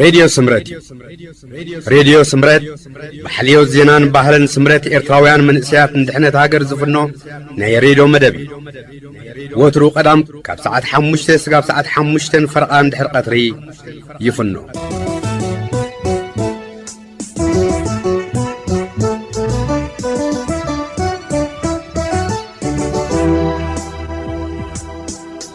ሬድዮ ስምረት እዩ ሬድዮ ስምረት ብሓልዮት ዜናን ባህልን ስምረት ኤርትራውያን መንእሰያት ንድሕነት ሃገር ዝፍኖ ናይ ሬድዮ መደብ እዩ ወትሩ ቀዳም ካብ ሰዓት ሓሙሽተ ስጋብ ሰዓት ሓሙሽተን ፈርቓን ድሕሪ ቀትሪ ይፍኖ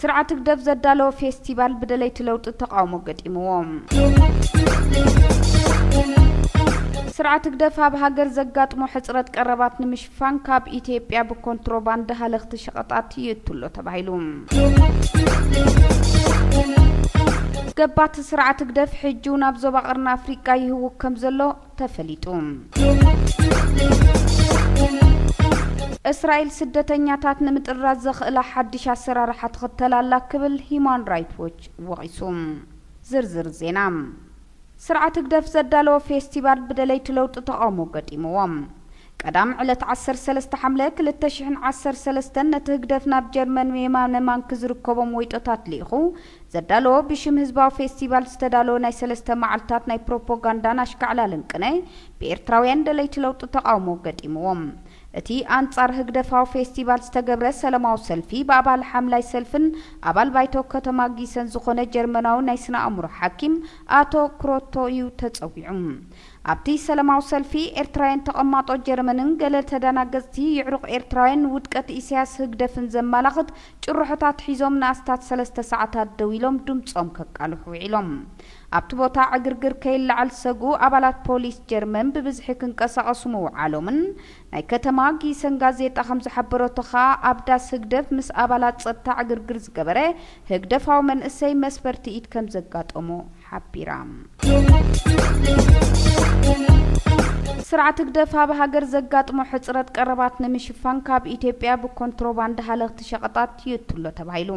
ስርዓት ህግደፍ ዘዳለዎ ፌስቲቫል ብደለይቲ ለውጢ ተቓውሞ ገጢምዎ። ስርዓት ህግደፍ ኣብ ሃገር ዘጋጥሞ ሕጽረት ቀረባት ንምሽፋን ካብ ኢትዮጵያ ብኮንትሮባንድ ሃለኽቲ ሸቐጣት ይእቱሎ ተባሂሉ። ገባቲ ስርዓት ህግደፍ ሕጂውን ኣብ ዞባ ቀርኒ ኣፍሪቃ ይህውክ ከምዘሎ ተፈሊጡ። እስራኤል ስደተኛታት ንምጥራዝ ዘኽእላ ሓድሽ ኣሰራርሓ ትኽተል ኣላ ክብል ሂዩማን ራይት ዎች ወቒሱ። ዝርዝር ዜና። ስርዓት ህግደፍ ዘዳለዎ ፌስቲቫል ብደለይቲ ለውጢ ተቓውሞ ገጢምዎ። ቀዳም ዕለት ዓሰርተ ሰለስተ ሓምለ ክልተ ሽሕን ዓሰርተ ሰለስተን ነቲ ህግደፍ ናብ ጀርመን የማነ ማንኪ ዝርከቦም ወይጦታት ልኢኹ ዘዳለዎ ብሽም ህዝባዊ ፌስቲቫል ዝተዳለወ ናይ ሰለስተ መዓልታት ናይ ፕሮፖጋንዳን ኣሽካዕላልን ቅነ ብኤርትራውያን ደለይቲ ለውጢ ተቓውሞ ገጢምዎ እቲ ኣንጻር ህግደፋዊ ፌስቲቫል ዝተገብረ ሰለማዊ ሰልፊ ብኣባል ሓምላይ ሰልፍን ኣባል ባይቶ ከተማ ጊሰን ዝኾነ ጀርመናዊ ናይ ስነ ኣእምሮ ሓኪም ኣቶ ክሮቶ እዩ ተጸዊዑ። ኣብቲ ሰለማዊ ሰልፊ ኤርትራውያን ተቐማጦ ጀረመንን ገለ ተዳናገጽቲ ይዕሩቕ ኤርትራውያን ንውድቀት ኢሳያስ ህግደፍን ዘማላኽት ጭርሖታት ሒዞም ንኣስታት ሰለስተ ሰዓታት ደው ኢሎም ድምጾም ከቃልሑ ውዒሎም። ኣብቲ ቦታ ዕግርግር ከይለዓል ዝሰግኡ ኣባላት ፖሊስ ጀርመን ብብዝሒ ክንቀሳቐሱ ምውዓሎምን ናይ ከተማ ጊሰን ጋዜጣ ከም ዝሓበረቶ ከኣ ኣብ ዳስ ህግደፍ ምስ ኣባላት ጸጥታ ዕግርግር ዝገበረ ህግደፋዊ መንእሰይ መስፈርቲ ኢድ ከም ዘጋጠሞ ሓቢራ። ስርዓት ህግደፍ ኣብ ሃገር ዘጋጥሞ ሕጽረት ቀረባት ንምሽፋን ካብ ኢትዮጵያ ብኮንትሮባንድ ሃለኽቲ ሸቐጣት ይእቱ'ሎ ተባሂሉ።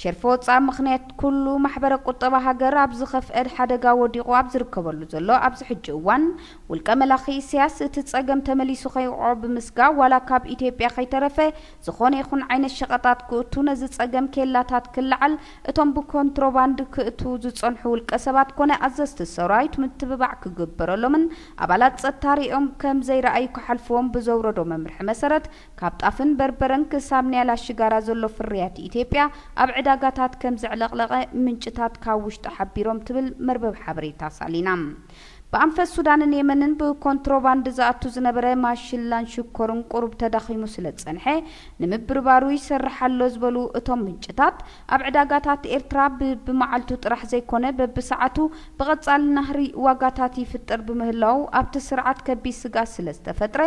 ሸርፊ ወጻኢ ምኽንያት ኩሉ ማሕበረ ቁጠባ ሃገር ኣብ ዝኸፍኤ ሓደጋ ወዲቑ ኣብ ዝርከበሉ ዘሎ ኣብዚ ሕጂ እዋን ውልቀ መላኺ ኢሰያስ እቲ ጸገም ተመሊሱ ከይወቕዖ ብምስጋእ ዋላ ካብ ኢትዮጵያ ከይተረፈ ዝኾነ ይኹን ዓይነት ሸቐጣት ክእቱ ነዚ ጸገም ኬላታት ክለዓል እቶም ብኮንትሮባንድ ክእትዉ ዝጸንሑ ውልቀሰባት ኮነ ኣዘዝቲ ሰራዊት ምትብባዕ ክግበረሎምን ኣባላት ጸጥታ ርእዮም ከም ዘይረኣዩ ክሓልፍዎም ብዘውረዶ መምርሒ መሰረት ካብ ጣፍን በርበረን ክሳብ ንያላ ሽጋራ ዘሎ ፍርያት ኢትዮጵያ ኣብ ዕዳጋታት ከም ዘዕለቕለቐ ምንጭታት ካብ ውሽጢ ሓቢሮም ትብል መርበብ ሓበሬታ ሳሊና። ብኣንፈት ሱዳንን የመንን ብኮንትሮባንድ ዝኣቱ ዝነበረ ማሽላን ሽኮርን ቁሩብ ተዳኺሙ ስለዝጸንሐ ንምብርባሩ ይሰርሕ ኣሎ ዝበሉ እቶም ምንጭታት፣ ኣብ ዕዳጋታት ኤርትራ ብብመዓልቱ ጥራሕ ዘይኮነ በብሰዓቱ ብቐጻሊ ናህሪ ዋጋታት ይፍጠር ብምህላዉ ኣብቲ ስርዓት ከቢድ ስግኣት ስለዝተፈጥረ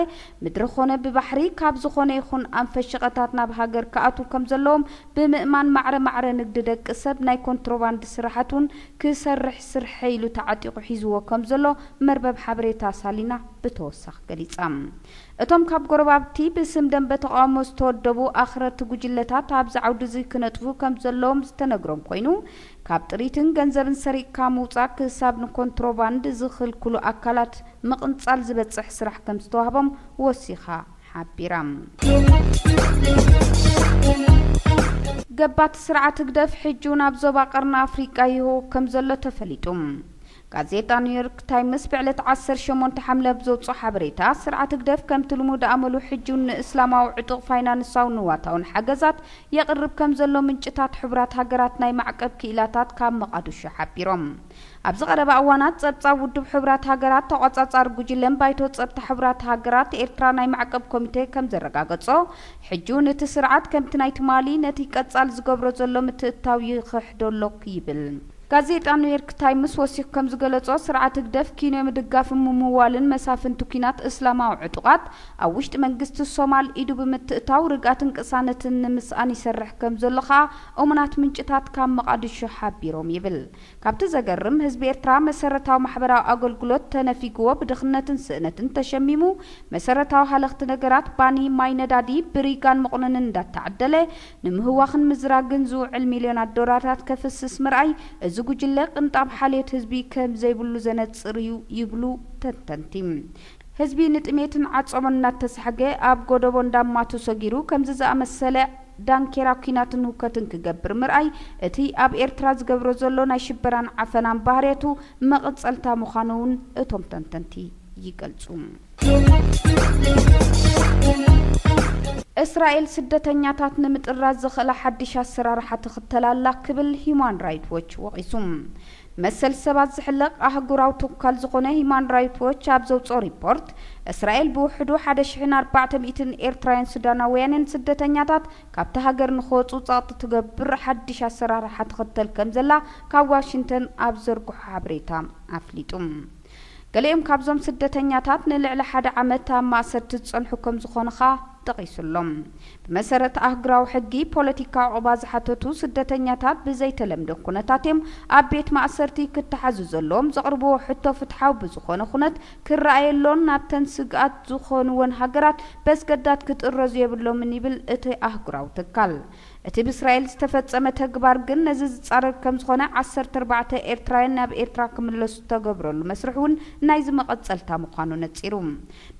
ምድሪ ኮነ ብባሕሪ ካብ ዝኾነ ይኹን ኣንፈት ሸቐታት ናብ ሃገር ክኣትዉ ከምዘለዎም ብምእማን ማዕረ ማዕረ ንግዲ ደቂ ሰብ ናይ ኮንትሮባንድ ስራሓት ውን ክሰርሕ ስርሐይ ኢሉ ተዓጢቑ ሒዝዎ ከም ዘሎ መርበብ ሓበሬታ ሳሊና ብተወሳኺ ገሊጻ። እቶም ካብ ጎረባብቲ ብስም ደምበ ተቓውሞ ዝተወደቡ ኣኽረርቲ ጉጅለታት ኣብዚ ዓውዲ'ዚ ክነጥፉ ከም ዘለዎም ዝተነግሮም ኮይኑ፣ ካብ ጥሪትን ገንዘብን ሰሪቕካ ምውጻእ ክሳብ ንኮንትሮባንድ ዝኽልክሉ ኣካላት ምቕንጻል ዝበጽሕ ስራሕ ከም ዝተዋህቦም ወሲኻ ሓቢራ። ገባቲ ስርዓት ህግደፍ ሕጂውን ኣብ ዞባ ቀርኒ ኣፍሪቃ ይህወኽ ከምዘሎ ተፈሊጡ። ጋዜጣ ኒውዮርክ ታይምስ ብዕለት ዓሰርተ ሸሞንተ ሓምለ ኣብ ዘውጽኦ ሓበሬታ፣ ስርዓት ህግደፍ ከምቲ ልሙድ ኣመሉ ሕጂውን ንእስላማዊ ዕጡቕ ፋይናንሳውን ንዋታውን ሓገዛት የቕርብ ከምዘሎ ምንጭታት ሕቡራት ሃገራት ናይ ማዕቀብ ክኢላታት ካብ መቓድሾ ሓቢሮም። ኣብዚ ቀረባ እዋናት ጸብጻብ ውድብ ሕቡራት ሃገራት ተቖጻጻሪ ጉጅለን ባይቶ ጸጥታ ሕቡራት ሃገራት ኤርትራ ናይ ማዕቀብ ኮሚቴ ከም ዘረጋገጾ ሕጂውን እቲ ስርዓት ከምቲ ናይ ትማሊ ነቲ ቀጻሊ ዝገብሮ ዘሎ ምትእትታው ይኽሕዶ ኣሎ ይብል። ጋዜጣ ኑዮርክ ታይምስ ወሲኹ ከም ዝገለጾ ስርዓት ህግደፍ ኪንዮ ምድጋፍን ምምዋልን መሳፍንቲ ኩናት እስላማዊ ዕጡቓት ኣብ ውሽጢ መንግስቲ ሶማል ኢዱ ብምትእታው ርግኣትን ቅሳነትን ንምስኣን ይሰርሕ ከም ዘሎ ከኣ እሙናት ምንጭታት ካብ መቓድሾ ሓቢሮም ይብል ካብቲ ዘገርም ህዝቢ ኤርትራ መሰረታዊ ማሕበራዊ ኣገልግሎት ተነፊግዎ ብድኽነትን ስእነትን ተሸሚሙ መሰረታዊ ሃለኽቲ ነገራት ባኒ ማይ ነዳዲ ብሪጋን መቑነንን እንዳተዓደለ ንምህዋኽን ምዝራግን ዝውዕል ሚልዮናት ዶላርታት ከፍስስ ምርኣይ እዚ ጉጅለ ቅንጣብ ሓልዮት ህዝቢ ከምዘይብሉ ዘነጽር እዩ ይብሉ ተንተንቲ። ህዝቢ ንጥሜትን ዓጾቦን እናተሳሕገ ኣብ ጎዶቦ እንዳማቱ ሰጊሩ ከምዚ ዝኣመሰለ ዳንኬራ ኩናትን ህውከትን ክገብር ምርኣይ እቲ ኣብ ኤርትራ ዝገብሮ ዘሎ ናይ ሽበራን ዓፈናን ባህርያቱ መቐጸልታ ምዃኑ'ውን እቶም ተንተንቲ ይገልጹ። እስራኤል ስደተኛታት ንምጥራዝ ዘኽእላ ሓድሽ ኣሰራርሓ ትኽተል ኣላ ክብል ሂዩማን ራይት ዎች ወቒሱ። መሰል ሰባት ዝሕለቕ ኣህጉራዊ ትካል ዝኾነ ሂማን ራይት ዎች ኣብ ዘውጽኦ ሪፖርት፣ እስራኤል ብውሕዱ ሓደ ሽሕን ኣርባዕተ ሚእትን ኤርትራውያን ሱዳናውያንን ስደተኛታት ካብታ ሃገር ንኽወጹ ጸቕጢ ትገብር ሓድሽ ኣሰራርሓ ትኽተል ከምዘላ ካብ ዋሽንተን ኣብ ዝዘርግሖ ሓበሬታ ኣፍሊጡ። ገሊኦም ካብዞም ስደተኛታት ንልዕሊ ሓደ ዓመት ኣብ ማእሰርቲ ዝጸንሑ ከም ዝኾኑ ከኣ ጠቒሱ ኣሎ። ብመሰረት ኣህጉራዊ ሕጊ፣ ፖለቲካዊ ዑቕባ ዝሓተቱ ስደተኛታት ብዘይተለምደ ኩነታት እዮም ኣብ ቤት ማእሰርቲ ክተሓዙ ዘለዎም፣ ዘቕርብዎ ሕቶ ፍትሓዊ ብዝኾነ ኩነት ክረኣየሎን ናብተን ስግኣት ዝኾንወን ሃገራት በስገዳድ ክጥረዙ የብሎምን ይብል እቲ ኣህጉራዊ ትካል። እቲ ብእስራኤል ዝተፈጸመ ተግባር ግን ነዚ ዝጻረር ከምዝኾነ ዓሰርተ ኣርባዕተ ኤርትራውያን ናብ ኤርትራ ክምለሱ ዝተገብረሉ መስርሕ እውን ናይዚ መቐጸልታ ምዃኑ ነጺሩ።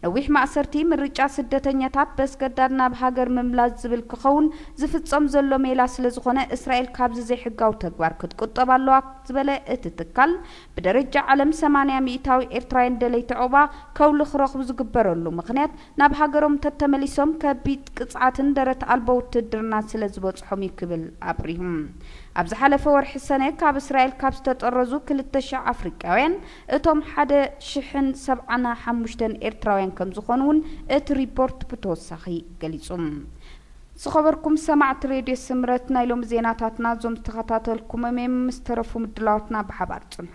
ነዊሕ ማእሰርቲ፣ ምርጫ ስደተኛታት በስገዳድ ናብ ሃገር ምምላስ ዝብል ክኸውን ዝፍጸም ዘሎ ሜላ ስለዝኾነ እስራኤል ካብዚ ዘይሕጋዊ ተግባር ክትቁጠብ ኣለዋ ዝበለ እቲ ትካል ብደረጃ ዓለም ሰማንያ ሚኢታዊ ኤርትራውያን ደለይቲ ዑቕባ ከውሊ ክረኽቡ ዝግበረሉ ምኽንያት ናብ ሃገሮም እንተተመሊሶም ከቢድ ቅፅዓትን ደረት ኣልቦ ውትህድርናን ስለ ዝበፅሖም እዩ ክብል ኣብሪሁ። ኣብ ዝሓለፈ ወርሒ ሰነ ካብ እስራኤል ካብ ዝተጠረዙ ክልተ ሽሕ ኣፍሪቃውያን እቶም ሓደ ሽሕን ሰብዓና ሓሙሽተን ኤርትራውያን ከም ዝኾኑ እውን እቲ ሪፖርት ብተወሳኺ ገሊፁ። ዝኸበርኩም ሰማዕቲ ሬድዮ ስምረት ናይ ሎሚ ዜናታትና እዞም ዝተኸታተልኩሞም እዮም ምስ ተረፉ ምድላዋትና ብሓባር ፅንሑ።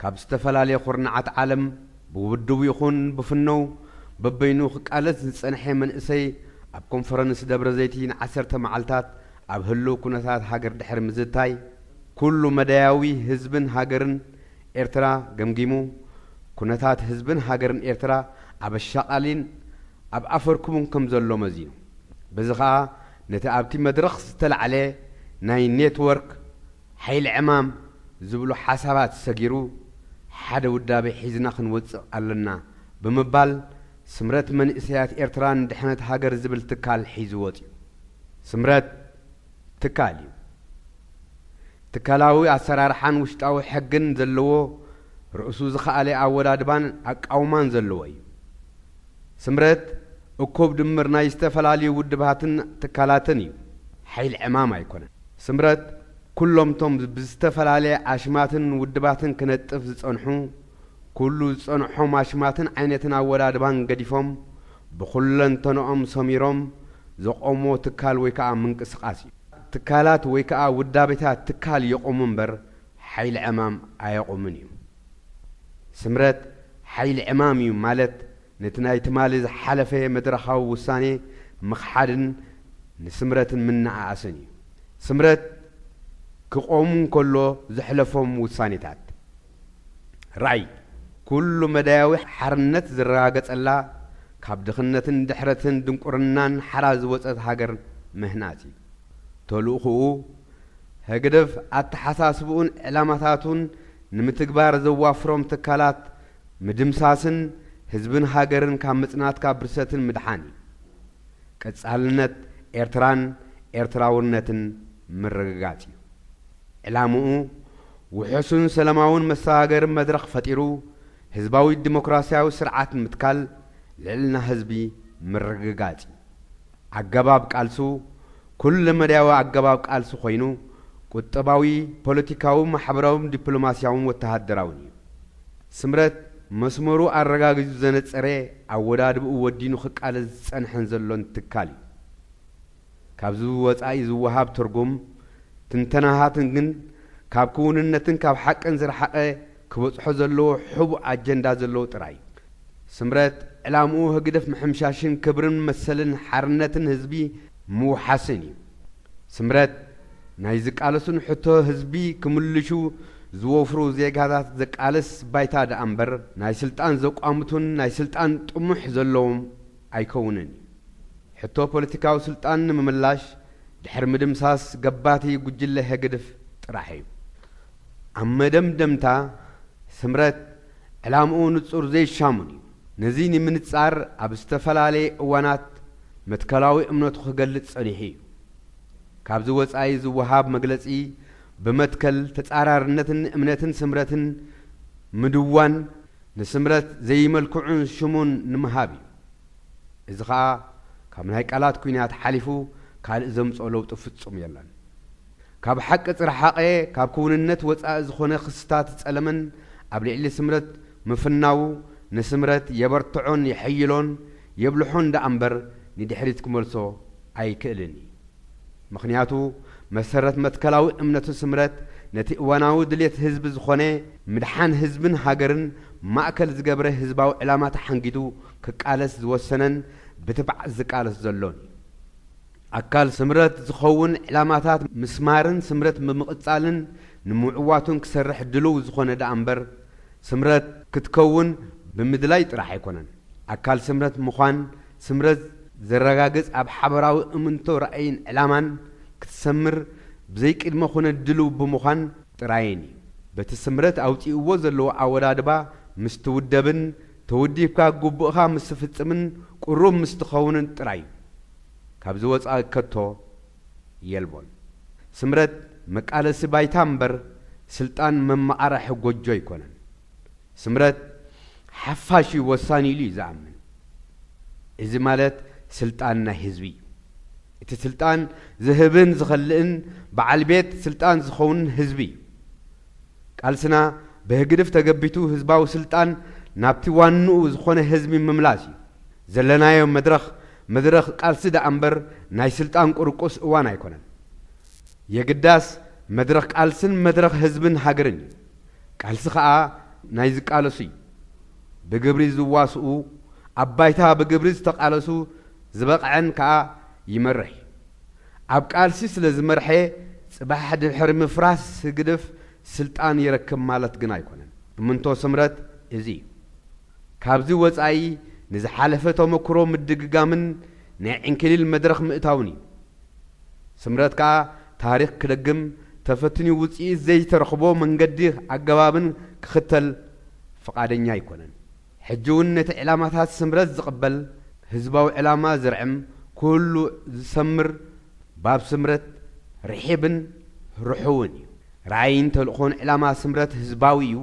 ካብ ዝተፈላለየ ኩርናዓት ዓለም ብውድቡ ይኹን ብፍነው በበይኑ ክቃለስ ዝጸንሐ መንእሰይ ኣብ ኮንፈረንስ ደብረዘይቲ ንዓሰርተ መዓልታት ኣብ ህልው ኩነታት ሃገር ድሕሪ ምዝታይ ኩሉ መዳያዊ ህዝብን ሃገርን ኤርትራ ገምጊሙ ኩነታት ህዝብን ሃገርን ኤርትራ ኣብ ኣሻቓሊን ኣብ ኣፈርኩቡን ከም ዘሎ መዚኑ በዚ ከኣ ነቲ ኣብቲ መድረኽ ዝተላዕለ ናይ ኔትወርክ ሓይሊ ዕማም ዝብሉ ሓሳባት ሰጊሩ ሓደ ውዳቤ ሒዝና ክንወጽእ ኣለና ብምባል ስምረት መንእሰያት ኤርትራ ንድሕነት ሃገር ዝብል ትካል ሒዙ ወጺኡ። ስምረት ትካል እዩ። ትካላዊ ኣሰራርሓን ውሽጣዊ ሕግን ዘለዎ ርእሱ ዝኸኣለ ኣወዳድባን ኣቃውማን ዘለዎ እዩ። ስምረት እኩብ ድምር ናይ ዝተፈላለዩ ውድባትን ትካላትን እዩ፣ ሓይል ዕማም ኣይኮነን። ስምረት ኩሎም'ቶም ብዝተፈላለየ ኣሽማትን ውድባትን ክነጥፍ ዝጸንሑ፣ ኩሉ ዝጸንሖም ኣሽማትን ዓይነትን ኣወዳድባን ገዲፎም ብኹለንተንኦም ሰሚሮም ዘቖምዎ ትካል ወይ ከኣ ምንቅስቓስ እዩ። ትካላት ወይ ከኣ ውዳቤታት ትካል የቑሙ እምበር ሓይል ዕማም ኣየቑምን እዩ። ስምረት ሓይሊ ዕማም እዩ ማለት ነቲ ናይ ትማሊ ዝሓለፈ መድረኻዊ ውሳኔ ምኽሓድን ንስምረትን ምንኣኣስን እዩ። ስምረት ክቆም እንከሎ ዘሕለፎም ውሳኔታት ራእይ ኩሉ መዳያዊ ሓርነት ዝረጋገጸላ ካብ ድኽነትን ድሕረትን ድንቁርናን ሓራ ዝወጸት ሃገር ምህናጽ እዩ። ተልእኹኡ ህግደፍ ኣተሓሳስብኡን ዕላማታቱን ንምትግባር ዘዋፍሮም ትካላት ምድምሳስን ህዝብን ሃገርን ካብ ምጽናትካ ብርሰትን ምድሓን እዩ። ቀጻልነት ኤርትራን ኤርትራውነትን ምርግጋጽ እዩ ዕላምኡ። ውሑሱን ሰላማውን መሰጋገሪ መድረኽ ፈጢሩ ህዝባዊ ዲሞክራስያዊ ስርዓት ምትካል ልዕልና ህዝቢ ምርግጋጽ እዩ። ኣገባብ ቃልሱ ኩለመዳያዊ ኣገባብ ቃልሲ ኮይኑ ቁጠባዊ፣ ፖለቲካዊ፣ ማሕበራውን ዲፕሎማሲያውን ወተሃደራውን እዩ። ስምረት መስመሩ ኣረጋጊጹ ዘነጸረ ኣወዳድብኡ ወዲኑ ክቃለስ ዝጸንሐን ዘሎን ትካል እዩ። ካብዚ ብወጻኢ ዝወሃብ ትርጉም ትንተናታትን ግን ካብ ክውንነትን ካብ ሓቅን ዝረሓቐ ክበጽሖ ዘለዎ ሕቡእ ኣጀንዳ ዘለዎ ጥራይ። ስምረት ዕላምኡ ህግደፍ ምሕምሻሽን ክብርን መሰልን ሓርነትን ህዝቢ ምውሓስን እዩ። ስምረት ናይ ዝቃለሱን ሕቶ ህዝቢ ክምልሹ ዝወፍሩ ዜጋታት ዘቃልስ ባይታ ደኣ እምበር ናይ ስልጣን ዘቋምቱን ናይ ስልጣን ጥሙሕ ዘለዎም ኣይከውንን እዩ። ሕቶ ፖለቲካዊ ስልጣን ንምምላሽ ድሕሪ ምድምሳስ ገባቲ ጉጅለ ህግድፍ ጥራሕ እዩ። ኣብ መደምደምታ፣ ስምረት ዕላምኡ ንጹር ዘይሻሙን እዩ። ነዚ ንምንጻር ኣብ ዝተፈላለየ እዋናት መትከላዊ እምነቱ ክገልጽ ጸኒሑ እዩ። ካብዚ ወጻኢ ዝወሃብ መግለጺ ብመትከል ተጻራርነትን እምነትን ስምረትን ምድዋን ንስምረት ዘይመልክዑን ሽሙን ንምሃብ እዩ። እዚ ከኣ ካብ ናይ ቃላት ኲናት ሓሊፉ ካልእ ዘምጽኦ ለውጢ ፍጹም የለን። ካብ ሓቂ ዝረሓቐ ካብ ክውንነት ወፃኢ ዝኾነ ክስታት ፀለመን ኣብ ልዕሊ ስምረት ምፍናዉ ንስምረት የበርትዖን የሐይሎን የብልሖን ደኣ እምበር ንድሕሪት ክመልሶ ኣይክእልን እዩ። ምኽንያቱ መሰረት መትከላዊ እምነቱ ስምረት ነቲ እዋናዊ ድሌት ህዝቢ ዝኾነ ምድሓን ህዝብን ሃገርን ማእከል ዝገብረ ህዝባዊ ዕላማ ተሓንጊጡ ክቃለስ ዝወሰነን ብትብዓት ዝቃለስ ዘሎን እዩ። ኣካል ስምረት ዝኸውን ዕላማታት ምስማርን ስምረት ብምቕጻልን ንምዕዋቱን ክሰርሕ ድሉው ዝኾነ ደኣ እምበር፣ ስምረት ክትከውን ብምድላይ ጥራሕ ኣይኮነን። ኣካል ስምረት ምዃን ስምረት ዘረጋግጽ ኣብ ሓበራዊ እምንቶ ራእይን ዕላማን ክትሰምር ብዘይቅድመ ኩነት ድሉው ብምዃን ጥራይን እዩ። በቲ ስምረት ኣውጺእዎ ዘለዎ ኣወዳድባ ምስ ትውደብን ተወዲብካ ግቡእኻ ምስ ትፍጽምን ቅሩብ ምስ ትኸውንን ጥራይ እዩ። ካብዚ ወጻኢ ከቶ የልቦን። ስምረት መቃለሲ ባይታ እምበር ስልጣን መመቓረሒ ጎጆ ኣይኮነን። ስምረት ሓፋሽ እዩ ወሳኒ ኢሉ እዩ ዝኣምን። እዚ ማለት ስልጣን ናይ ህዝቢ እዩ። እቲ ስልጣን ዝህብን ዝኸልእን በዓል ቤት ስልጣን ዝኸውንን ህዝቢ እዩ። ቃልስና ብህግድፍ ተገቢቱ ህዝባዊ ስልጣን ናብቲ ዋንኡ ዝኾነ ህዝቢ ምምላስ እዩ። ዘለናዮ መድረኽ መድረኽ ቃልሲ ደኣ እምበር ናይ ስልጣን ቁርቁስ እዋን ኣይኮነን። የግዳስ መድረኽ ቃልስን መድረኽ ህዝብን ሃገርን እዩ። ቃልሲ ከኣ ናይ ዝቃለሱ እዩ። ብግብሪ ዝዋስኡ፣ ኣብ ባይታ ብግብሪ ዝተቃለሱ ዝበቕዐን ከኣ ይመርሕ እዩ። ኣብ ቃልሲ ስለ ዝመርሐ ጽባሕ ድሕሪ ምፍራስ ህግድፍ ስልጣን ይረክብ ማለት ግን ኣይኮነን። እምንቶ ስምረት እዚ እዩ። ካብዚ ወጻኢ ንዝሓለፈ ተመኩሮ ምድግጋምን ናይ ዕንኪሊል መድረኽ ምእታውን እዩ። ስምረት ከኣ ታሪኽ ክደግም ተፈትንዩ ውጽኢት ዘይተረኽቦ መንገዲ ኣገባብን ክኽተል ፍቓደኛ ኣይኮነን። ሕጂውን ነቲ ዕላማታት ስምረት ዝቕበል ህዝባዊ ዕላማ ዝርዕም ኩሉ ዝሰምር ባብ ስምረት ርሒብን ርሑውን እዩ። ራእይን ተልእኾን ዕላማ ስምረት ህዝባዊ እዩ።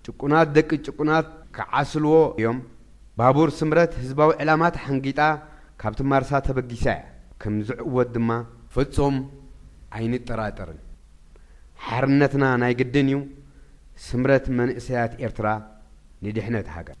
ጭቁናት ደቂ ጭቁናት ክዓስልዎ እዮም ባቡር ስምረት ህዝባዊ ዕላማ ተሓንጊጣ ካብቲ ማርሳ ተበጊሳ እያ ከም ዝዕወት ድማ ፍጹም ኣይንጠራጠርን ሓርነትና ናይ ግድን እዩ ስምረት መንእሰያት ኤርትራ ንድሕነት ሃገር።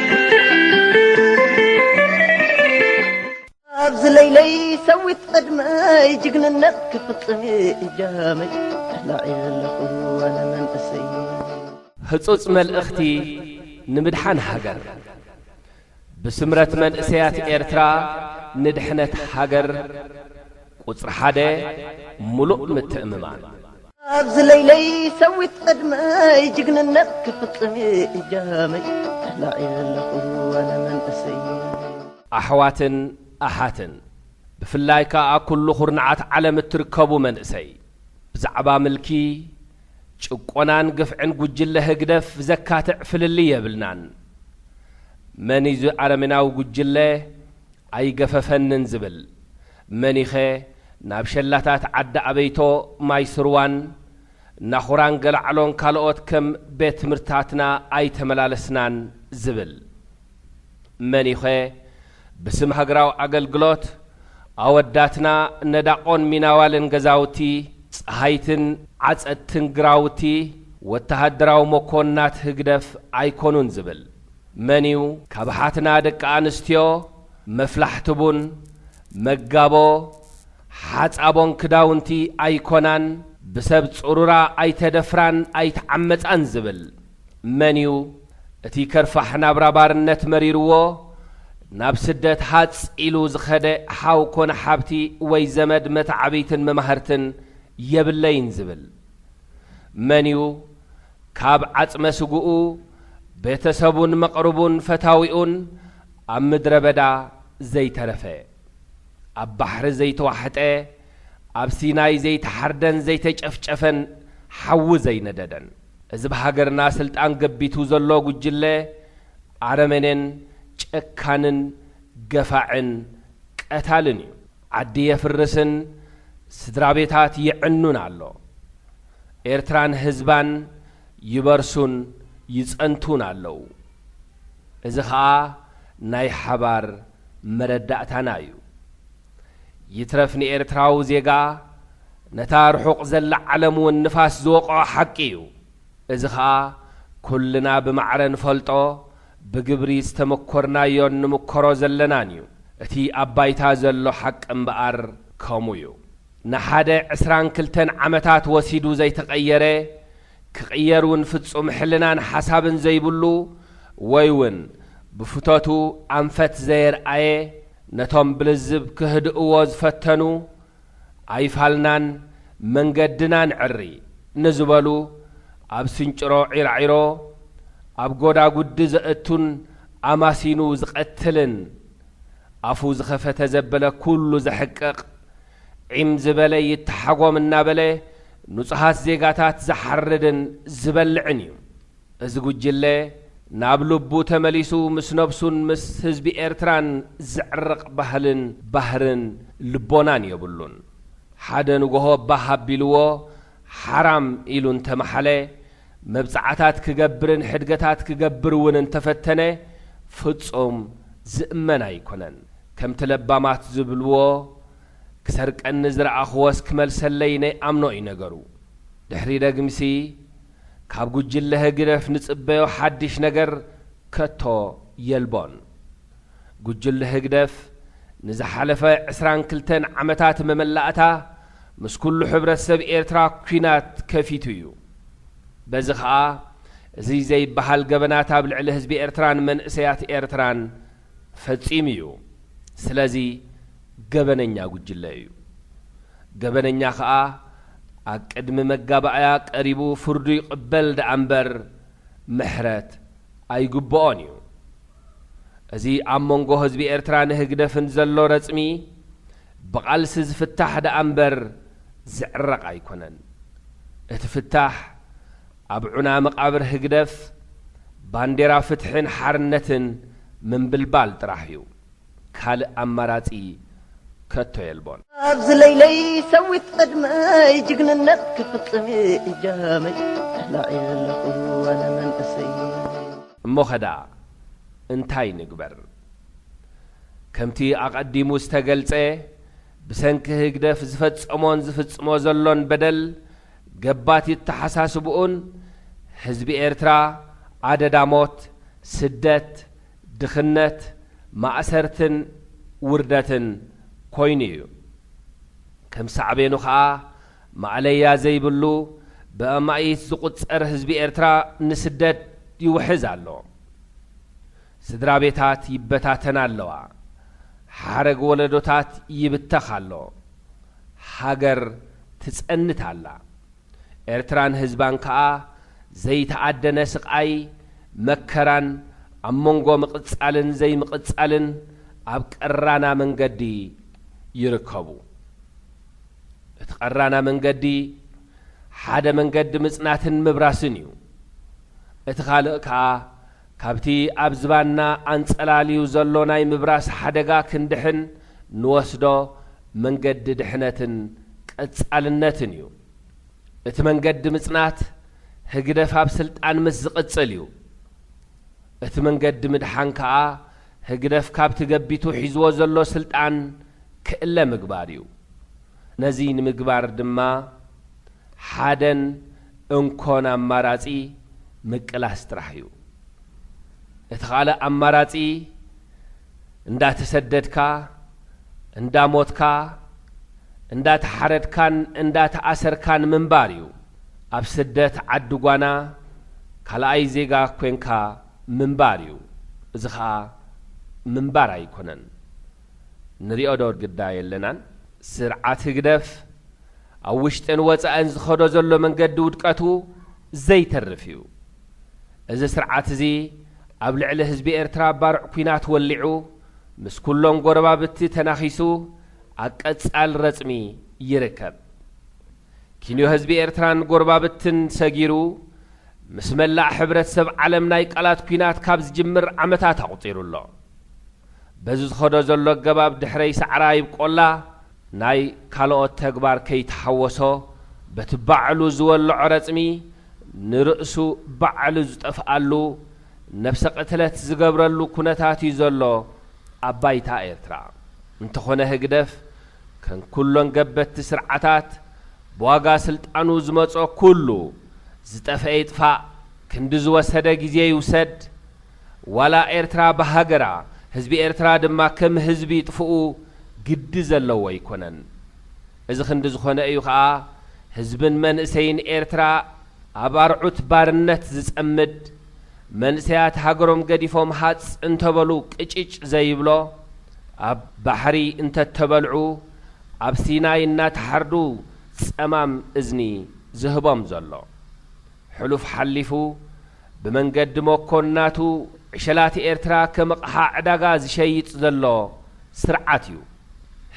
ኣብዚ ለይለይ ሰዊት ዕድመይ ጅግንነት ክፍፅም እጃመይ ተላዒ ዘለኹ ኣነ መንእሰይ ህጹጽ መልእኽቲ ንምድሓን ሃገር! ብስምረት መንእሰያት ኤርትራ ንድሕነት ሃገር! ቁጽሪ ሓደ ምሉእ ምትእምማን። ኣብዚ ለይለይ ሰዊት ዕድመይ ጅግንነት ክፍጽም እጃመይ ተላዕለ ኣለኹ ኣነ መንእሰይ። ኣሕዋትን ኣሓትን ብፍላይ ከኣ ኣብ ኩሉ ኩርናዓት ዓለም እትርከቡ መንእሰይ ብዛዕባ ምልኪ፣ ጭቆናን ግፍዕን ጉጅለ ህግደፍ ዘካትዕ ፍልልይ የብልናን። መን'ዩ እዚ ኣረሜናዊ ጉጅለ ኣይገፈፈንን ዝብል? መኒኸ ናብ ሸላታት ዓዲ ኣበይቶ፣ ማይ ስርዋን፣ ናኹራን ገላዕሎን ካልኦት ከም ቤት ትምህርትታትና ኣይተመላለስናን ዝብል? መኒኸ ብስም ሃገራዊ ኣገልግሎት ኣወዳትና ነዳቖን ሚናዋልን ገዛውቲ ጸሃይትን ዓጸድትን ግራውቲ ወተሃደራዊ መኮንናት ህግደፍ ኣይኮኑን ዝብል? መን'ዩ? ካብ ኣሓትና ደቂ ኣንስትዮ መፍላሕቲ ቡን፣ መጋቦ፣ ሓጻቦን ክዳውንቲ ኣይኮናን፣ ብሰብ ጽሩራ ኣይተደፍራን ኣይተዓመጻን ዝብል? መን'ዩ? እቲ ከርፋሕ ናብራ ባርነት መሪርዎ ናብ ስደት ሃጽ ኢሉ ዝኸደ ሓው ኮነ ሓብቲ ወይ ዘመድ መተዓብይትን መማህርትን የብለይን ዝብል? መን'ዩ? ካብ ዓጽመ ስግኡ፣ ቤተሰቡን መቕርቡን ፈታዊኡን ኣብ ምድረ በዳ ዘይተረፈ፣ ኣብ ባሕሪ ዘይተዋሕጠ፣ ኣብ ሲናይ ዘይተሓርደን ዘይተጨፍጨፈን ሓዊ ዘይነደደን። እዚ ብሃገርና ስልጣን ገቢቱ ዘሎ ጉጅለ ኣረመኔን ጨካንን ገፋዕን ቀታልን እዩ። ዓዲ የፍርስን ስድራቤታት ይዕኑን ኣሎ። ኤርትራን ህዝባን ይበርሱን ይጸንቱን ኣለዉ። እዚ ከኣ ናይ ሓባር መረዳእታና እዩ። ይትረፍ ንኤርትራዊ ዜጋ ነታ ርሑቕ ዘላ ዓለም እውን ንፋስ ዝወቕዖ ሓቂ እዩ። እዚ ከኣ ኩልና ብማዕረ ንፈልጦ ብግብሪ ዝተመኮርናዮን ንምኮሮ ዘለናን እዩ። እቲ ኣብ ባይታ ዘሎ ሓቂ እምበኣር ከምኡ እዩ። ንሓደ ዕስራን ክልተን ዓመታት ወሲዱ ዘይተቐየረ፣ ክቕየር እውን ፍጹም ሕልናን ሓሳብን ዘይብሉ ወይ እውን ብፍቶቱ ኣንፈት ዘየርኣየ፣ ነቶም ብልዝብ ክህድእዎ ዝፈተኑ ኣይፋልናን መንገድና ንዕሪ ንዝበሉ ኣብ ስንጭሮ ዒራዒሮ ኣብ ጎዳጉዲ ዘእቱን ኣማሲኑ ዝቐትልን ኣፉ ዝኸፈተ ዘበለ ኩሉ ዘሕቅቕ ዒም ዝበለ ይተሓጎም እናበለ ንፁሃት ዜጋታት ዝሓርድን ዝበልዕን እዩ። እዚ ጉጅለ ናብ ልቡ ተመሊሱ ምስ ነብሱን ምስ ህዝቢ ኤርትራን ዘዕርቕ ባህልን ባህርን ልቦናን የብሉን። ሓደ ንጎሆ ባህ ኣቢልዎ ሓራም ኢሉ እንተመሓለ፣ መብጽዓታት ክገብርን ሕድገታት ክገብር እውን እንተፈተነ ፍጹም ዝእመን ኣይኮነን። ከምቲ ለባማት ዝብልዎ ክሰርቀኒ ዝረኣኹዎስ ክመልሰለይ ነይኣምኖ እዩ ነገሩ። ድሕሪ ደግምሲ፣ ካብ ጉጅለ ህግደፍ ንጽበዮ ሓድሽ ነገር ከቶ የልቦን። ጉጅለ ህግደፍ ንዝሓለፈ ዕስራን ክልተን ዓመታት መመላእታ ምስ ኩሉ ሕብረተሰብ ኤርትራ ኩናት ከፊቱ እዩ። በዚ ከኣ እዚ ዘይበሃል ገበናት ኣብ ልዕሊ ህዝቢ ኤርትራን መንእሰያት ኤርትራን ፈጺሙ እዩ። ስለዚ ገበነኛ ጉጅለ እዩ። ገበነኛ ከኣ ኣብ ቅድሚ መጋባእያ ቀሪቡ ፍርዱ ይቕበል ደኣምበር ምሕረት ኣይግብኦን እዩ። እዚ ኣብ መንጎ ህዝቢ ኤርትራን ህግደፍን ዘሎ ረጽሚ ብቓልሲ ዝፍታሕ ደኣምበር ዝዕረቕ ኣይኮነን። እቲ ፍታሕ ኣብ ዑና መቓብር ህግደፍ ባንዴራ ፍትሕን ሓርነትን ምንብልባል ጥራሕ እዩ። ካልእ ኣማራጺ ከቶ የልቦን። ኣብዚ ለይለይ ሰዊት ቅድመይ ጅግንነት ክፍጽም እጃመይ ተላዕየ ኣለኹ ኣነ መንእሰይ። እሞኸ ደኣ እንታይ ንግበር? ከምቲ ኣቐዲሙ ዝተገልጸ ብሰንኪ ህግደፍ ዝፈጸሞን ዝፍጽሞ ዘሎን በደል ገባት የተሓሳስብኡን ህዝቢ ኤርትራ ኣደዳ ሞት፣ ስደት፣ ድኽነት፣ ማእሰርትን ውርደትን ኮይኑ እዩ። ከም ሳዕቤኑ ከኣ ማእለያ ዘይብሉ ብኣማኢት ዝቑጸር ህዝቢ ኤርትራ ንስደት ይውሕዝ ኣሎ። ስድራቤታት ይበታተና ኣለዋ። ሓረግ ወለዶታት ይብተኽ ኣሎ። ሃገር ትጸንት ኣላ። ኤርትራን ህዝባን ከኣ ዘይተኣደነ ስቓይ መከራን ኣብ መንጎ ምቕጻልን ዘይምቕጻልን ኣብ ቀራና መንገዲ ይርከቡ። እቲ ቀራና መንገዲ ሓደ መንገዲ ምጽናትን ምብራስን እዩ። እቲ ካልእ ከኣ ካብቲ ኣብ ዝባንና ኣንጸላልዩ ዘሎ ናይ ምብራስ ሓደጋ ክንድሕን ንወስዶ መንገዲ ድሕነትን ቀጻልነትን እዩ። እቲ መንገዲ ምጽናት ህግደፍ ኣብ ስልጣን ምስ ዝቕጽል እዩ። እቲ መንገዲ ምድሓን ከኣ ህግደፍ ካብቲ ገቢቱ ሒዝዎ ዘሎ ስልጣን ክእለ ምግባር እዩ። ነዚ ንምግባር ድማ ሓደን እንኮን ኣማራጺ ምቅላስ ጥራሕ እዩ። እቲ ካልእ ኣማራጺ፣ እንዳተሰደድካ፣ እንዳሞትካ፣ እንዳተሓረድካን እንዳተኣሰርካን ምንባር እዩ። ኣብ ስደት ዓዲ ጓና ካልኣይ ዜጋ ኮንካ ምንባር እዩ። እዚ ከኣ ምንባር ኣይኮነን። ንሪኦ ዶ ግዳ የለናን? ስርዓት ህግደፍ ኣብ ውሽጥን ወጻእን ዝኸዶ ዘሎ መንገዲ ውድቀቱ ዘይተርፍ እዩ። እዚ ስርዓት እዚ ኣብ ልዕሊ ህዝቢ ኤርትራ ባርዕ ኩናት ወሊዑ ምስ ኩሎም ጎረባብቲ ተናኺሱ ኣብ ቀጻል ረጽሚ ይርከብ። ኪንዮ ህዝቢ ኤርትራን ጎረባብትን ሰጊሩ ምስ መላእ ሕብረተሰብ ዓለም ናይ ቃላት ኩናት ካብ ዝጅምር ዓመታት ኣቑጺሩ ኣሎ። በዚ ዝኸዶ ዘሎ ኣገባብ ድሕረይ ሳዕራ ይብቆላ፣ ናይ ካልኦት ተግባር ከይተሓወሶ በቲ ባዕሉ ዝወልዖ ረጽሚ ንርእሱ ባዕሉ ዝጠፍኣሉ፣ ነብሰ ቅትለት ዝገብረሉ ኩነታት'ዩ ዘሎ ኣብ ባይታ ኤርትራ። እንተኾነ ህግደፍ ከም ኩሎን ገበትቲ ስርዓታት ብዋጋ ስልጣኑ ዝመጾ ኩሉ ዝጠፍኤ ይጥፋእ፣ ክንዲ ዝወሰደ ግዜ ይውሰድ፣ ዋላ ኤርትራ ብሃገራ ህዝቢ ኤርትራ ድማ ከም ህዝቢ ይጥፍኡ ግዲ ዘለዎ ኣይኮነን። እዚ ክንዲ ዝኾነ እዩ ከኣ ህዝብን መንእሰይን ኤርትራ ኣብ ኣርዑት ባርነት ዝጸምድ፣ መንእሰያት ሃገሮም ገዲፎም ሃጽ እንተበሉ ቅጭጭ ዘይብሎ፣ ኣብ ባሕሪ እንተተበልዑ ኣብ ሲናይ እናተሓርዱ ጸማም እዝኒ ዝህቦም ዘሎ። ሕሉፍ ሓሊፉ ብመንገዲ መኮንናቱ ዕሸላት ኤርትራ ከም ኣቕሓ ዕዳጋ ዝሸይጥ ዘሎ ስርዓት እዩ።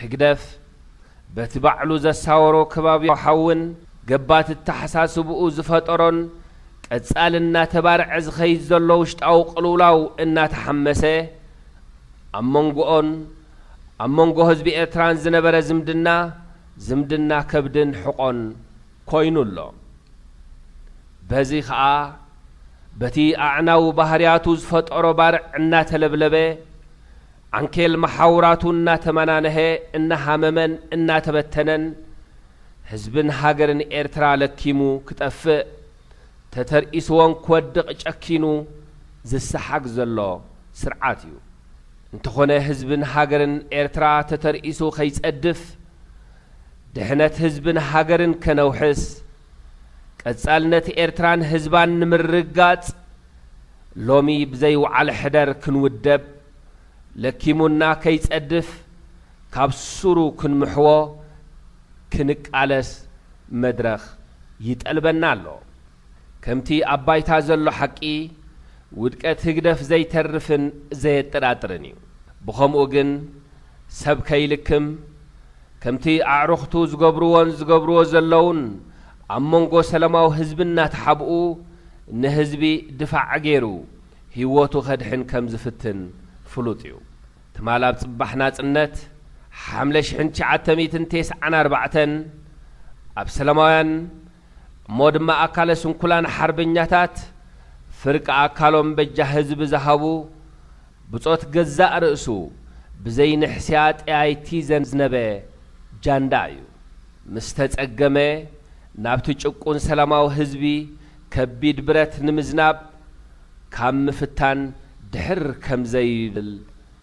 ህግደፍ በቲ ባዕሉ ዘሳወሮ ከባብያዊን ገባቲ ኣተሓሳስብኡ ዝፈጠሮን ቀጻሊ እናተባርዐ ዝኸይድ ዘሎ ውሽጣዊ ቅልውላው እናተሓመሰ ኣብ መንጎኦን ኣብ መንጎ ህዝቢ ኤርትራን ዝነበረ ዝምድና ዝምድና ከብድን ሕቖን ኮይኑ ኣሎ። በዚ ከኣ በቲ ኣዕናዊ ባህርያቱ ዝፈጠሮ ባርዕ እናተለብለበ፣ ዓንኬል መሓውራቱ እናተመናነሀ፣ እናሃመመን እናተበተነን፣ ህዝብን ሃገርን ኤርትራ ለኪሙ ክጠፍእ፣ ተተርኢስዎን ክወድቕ ጨኪኑ ዝሰሓግ ዘሎ ስርዓት እዩ። እንተኾነ ህዝብን ሃገርን ኤርትራ ተተርኢሱ ከይጸድፍ፣ ድሕነት ህዝብን ሃገርን ከነውሕስ፣ ቀጻልነት ኤርትራን ህዝባን ንምርግጋጽ ሎሚ ብዘይውዓል ሕደር ክንውደብ፣ ለኪሙና ከይጸድፍ ካብ ሱሩ ክንምሕዎ ክንቃለስ መድረኽ ይጠልበና ኣሎ። ከምቲ ኣብ ባይታ ዘሎ ሓቂ ውድቀት ህግደፍ ዘይተርፍን ዘየጠራጥርን እዩ። ብኸምኡ ግን ሰብ ከይልክም፣ ከምቲ ኣዕሩኽቱ ዝገብርዎን ዝገብርዎ ዘለዉን ኣብ መንጎ ሰለማዊ ህዝቢ እናተሓብኡ ንህዝቢ ድፋዕ ገይሩ ህይወቱ ከድሕን ከም ዝፍትን ፍሉጥ እዩ። ትማል ኣብ ፅባሕ ናፅነት፣ ሓምለ ሽሕን ትሽዓተ ሚእትን ቴስዓን ኣርባዕተን፣ ኣብ ሰለማውያን፣ እሞ ድማ ኣካለ ስንኩላን ሓርበኛታት ፍርቂ ኣካሎም በጃ ህዝቢ ዝሃቡ ብጾት ገዛእ ርእሱ ብዘይ ንሕስያ ጠያይቲ ዘዝነበ ጃንዳ እዩ። ምስ ተጸገመ ናብቲ ጭቁን ሰላማዊ ህዝቢ ከቢድ ብረት ንምዝናብ ካብ ምፍታን ድሕር ከምዘይብል